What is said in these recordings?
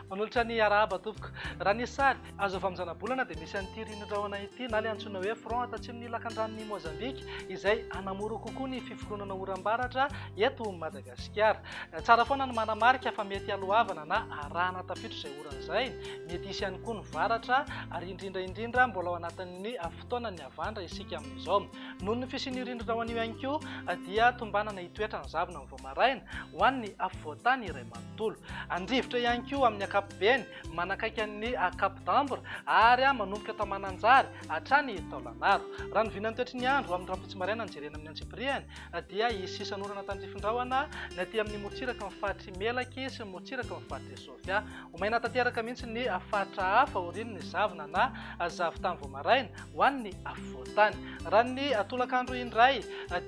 Manolotra ny arahaba tompoko. Raha ny sary azo avy amin'ny zanabolana dia misy an'ity ririn'ny rahona ity na ilay antsoina hoe front atatsimon'ny lakandranon'i Mozambika izay hanamora kokoa ny fiforoanana oram-baratra eto Madagasikara. Madagasikara. Tsara foana ny manamarika fa mety haloavana na arahana tafiditra izay orana izay. Mety hisy ihany koa ny varatra ary indrindra indrindra mbola ao anatin'ny fotoanan'ny havandra isika amin'izao. Noho ny fisian'io rindrina ho anio ihany koa dia tombanana hitoetra ny zavona vao maraina ho an'ny afovoan-tany iray manontolo. Handrivotra ihany koa amin'ny ankapobeny manakaiky an'ny Cap d'Ambre ary manomboka tao Mananjary hatrany Taolagnaro. Raha ny vinan'ny toetry ny andro amin'ny rahampitso maraina no jerena amin'ny antsipirihany dia hisy sisan'orana tandrifin-drahona ny aty amin'ny morontsiraky ny faritr'i Melaky sy ny morontsiraky ny faritr'i Sofia. Ho maina tanteraka mihitsy ny faritra hafa aorian'ny zavona na zavon-tany vao maraina ho an'ny afovoan-tany. Raha ny tolakandro indray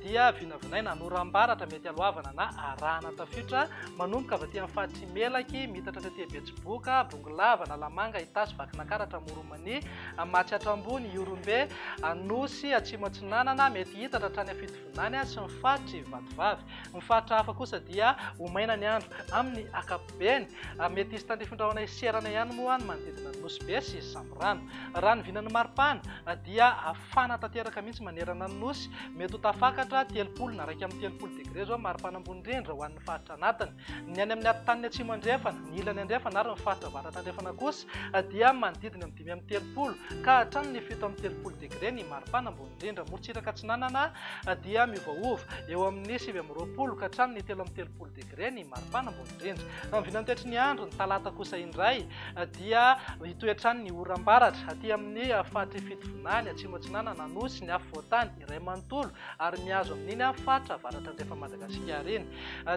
dia vinavinaina ny oram-baratra mety haloavana na arahana tafiotra manomboka avy aty amin'ny faritr'i Melaky, miitatra tety Betsiboka, Bongolava, Analamanga, Itasy, Vakinakaratra, Amoron'i ny Matsy Hatrambony, Ihorombe, Anosy, Atsimo Atsinanana, mety hitatra hatrany Afitovonany sy ny faritr' i Vatovavy. Ny faritra hafa kosa dia ho maina ny andro amin' ny ankapobeny. Mety hisy tandrifin-drahona hiserana ihany moa ny manodidina ny Nosy Be sy Samborano. Raha ny vinan'ny maripana dia hafana tanteraka mihitsy manerana ny Nosy, mety ho tafakatra telopolo na iraika amby telopolo degre izao ny maripana ambony indrindra ho an'ny faritra anatiny. Ny any amin'ny atotan'ny Atsimo Andrefana, ny ilany andrefana ary ny faritra avaratra andrefana kosa dia manodidina ny dimy amby telopolo ka hatramin' ny fito amby telopolo degre ny maripana ambony indrindra. Morontsiraka Atsinanana dia miovaova eo amin'ny sivy amby roapolo ka hatramin' ny telo amby telopolo degre ny maripana ambony indrindra. Amin'ny vinany toetry ny andro, ny talata kosa indray dia hitoetra any ny oram-baratra aty amin'ny faritr' i Fitovinany, Atsimo Atsinanana, Anosy, ny Afovoantany, iray manontolo ary mihazo amin'iny faritra avaratra-andrefan'i Madagasikara iny.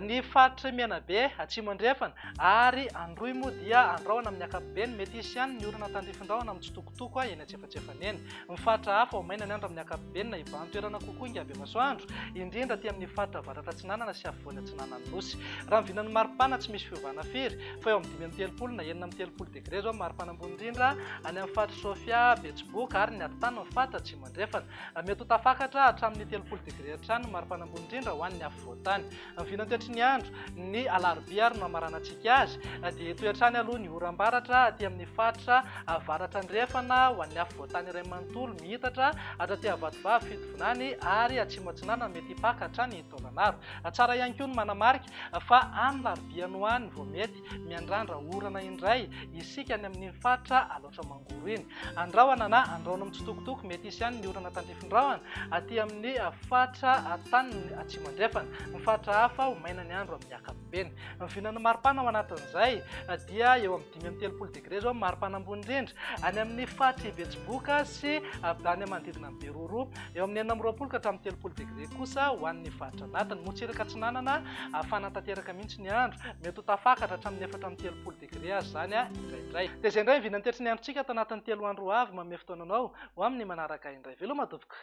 Ny faritr'i Menabe, atsimo-andrefana, ary Androy moa dia andrahona amin'ny ankapobeny. Mety hisy ihany ny olana tandrifindrahona amin'ny tsitokotoko eny antsefatsefany eny. Ny faritra hafa ho maina ny andro amin'ny ankapobeny na hibahan-toerana kokoa ingabevasoandro, indrindra aty amin'ny faritra avaratra-atsinanana sy afovoany atsinanan'ny Nosy. Raha ny vinan'ny maripana tsy misy fiovana firy fa eo amin'ny dimy amby telopolo na enina amby telopolo degre izao ny maripana ambony indrindra any amin'ny faritr'i Sofia, Betsiboka ary ny atitany ny faritra atsimo-andrefana. Andrefana. Mety ho tafakatra hatramin'ny telopolo degre hatrany ny maripana ambony indrindra ho an'ny afovoan-tany. Ny vinantiatry ny andro, ny alarobia ary no hamaranantsika azy, dia hitohy hatrany aloha ny oram-baratra aty amin'ny faritra avaratra andrefana ho an'ny afovoan-tany iray manontolo mihitatra hatraty Avatovavy Fitovinany ary atsimo-atsinanana mety hipaka hatrany Taolagnaro. Tsara ihany koa ny manamarika fa any larobia any ho any vao mety Malagasy, miandrandra orana indray isika any amin'iny faritra Alaotra Mangoro iny. Andrahona na andrahoina mitsitokotoko, mety hisy ihany ny orana tandrifin-drahona aty amin'ny faritra taniny atsimo andrefana. Ny faritra hafa ho maina ny andro amin'ny ankapobeny. Ny vinan'ny maripana ao anatin'izay dia eo amin'ny dimy amby telopolo degre izao ny maripana ambony indrindra any amin'ny faritr'i Betsiboka sy avy any manodidina an'i Beroro, eo amin'ny enina amby roapolo ka hatramin'ny telopolo degre kosa ho an'ny faritra anatiny. Motsiraka Atsinanana hafana tanteraka mihitsy. tsy ny andro, mety ho tafakatra hatramin'ny efatra amby telopolo degre aza izany indraindray. Dia izay indray ny vinan'ny tetry ny androntsika ato anatin'ny telo andro ho avy, manome fotoana anao ho amin'ny manaraka indray. Veloma doboka!